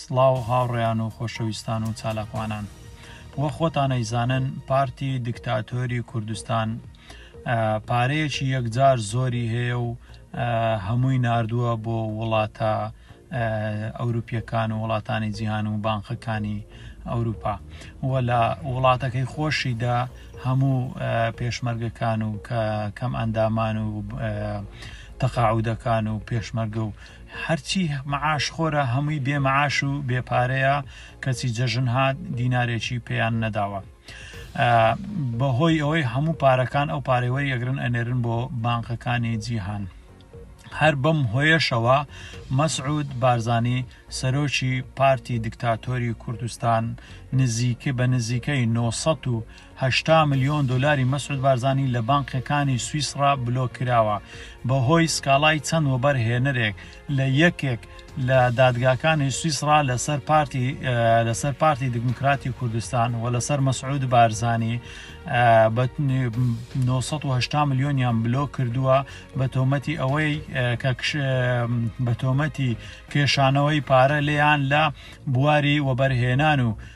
سڵاو هاوڕێیان و خۆشەویستان و چالاکوانان وە خۆتانەیزانن پارتی دکتاتۆری کوردستان پارەیەکی یەکجار زۆری هەیە و هەمووی نردووە بۆ وڵاتە ئەوروپیەکان و وڵاتانی جیهان و بانقەکانی ئەوروپا و لە وڵاتەکەی خۆشیدا هەموو پێشمەرگەکان و کە کەم ئەندامان و تەقاعودەکان و پێشمەرگە و هەرچی معاش خۆرە هەمووی بێ معاش و بێ پارەیە کەچی جەژن هات دینارێکی پێیان نەداوە بەهۆی ئەوەی هەموو پارەکان ئەو پارێوەری ئەگرن ئەنێرن بۆ بانقەکانی جیهان هەر بەم هۆیەشەوە مەسعود بارزانی سەرۆکی پارتی دکتاتۆری کوردستان نزیکە بە نزیکەی 900 هەشتا ملیۆن دۆلاری مەسعود بارزانی لە بانقیەکانی سویسڕا بلۆک کراوە بەهۆی سکاڵای چەند وەبەر هێنەرێک لە یەکێک لە دادگاکانی سویسڕا لەسەر پارتی لەسەر پارتی دیموکراتی کوردستان و لەسەر مەسعود بارزانی بە 980 ملیۆنیان بلۆک کردووە بە تۆمەتی ئەوەی کە بە تۆمەتی کێشانەوەی پارە لێیان لە بواری وەبەرهێنان و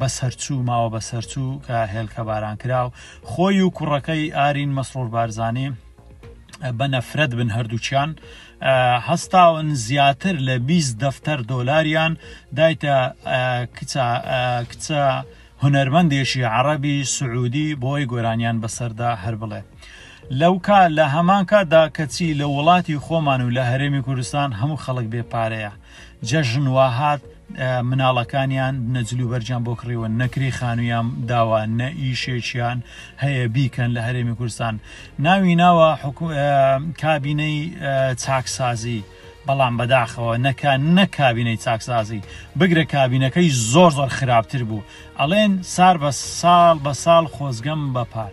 بەسەرچوو ماوە بەسەرچوو کە هێلکە باران کراو خۆی و کوڕەکەی ئارین مەسرۆر بارزانانی بە نەفرەت بن هەردووچیان هەستاون زیاتر لە 20 دەفتەر دۆلاریان دایتە کچە کچە هونەرمەندێکی عربی سعودی بۆی گۆرانیان بەسەردا هەر بڵێ. لەو کا لە هەمان کاتدا کەچی لە وڵاتی خۆمان و لە هەرێمی کوردستان هەموو خەڵک بێ پارەیە جەژن واهات مناڵەکانیان نەجلوبەرجان بۆ کڕیوە نەکری خانوویان داوە نە ئیشێکیان هەیە بیکەن لە هەرێمی کوردستان ناوی ناوە کابینەی چاکسازی بەڵام بەداخەوە نەکە نەکبینەی چاکسازی بگرە کابینەکەی زۆر زۆر خراپتر بوو ئەڵێن سار بە ساڵ بە ساڵ خۆزگەم بەپار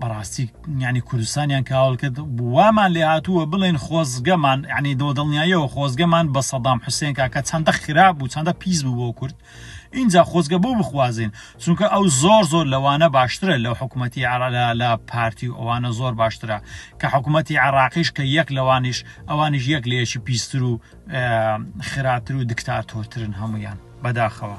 بەڕاستی یانی کوردستانیان کاول کرد وامان لێ هاتووە بڵێن خۆزگەمان ینی دۆ دڵنیاییەوە خۆزگەمان بە سەدام حوسێن کاکە چەندە خراپ بوو چەندە پیس بوو بۆ کورد اینجا خۆزگە بۆ بخوازین چونکە ئەو زۆر زۆر لەوانە باشترە لەو حکوومەتتی عرالا لە پارتی و ئەوانە زۆر باشترە کە حکوومەتتی عراقیش کە یەک لەوانیش ئەوانیش یەک لەیەکی پیستر و خراتر و دکتاتۆرترن هەمویان بەداخەوە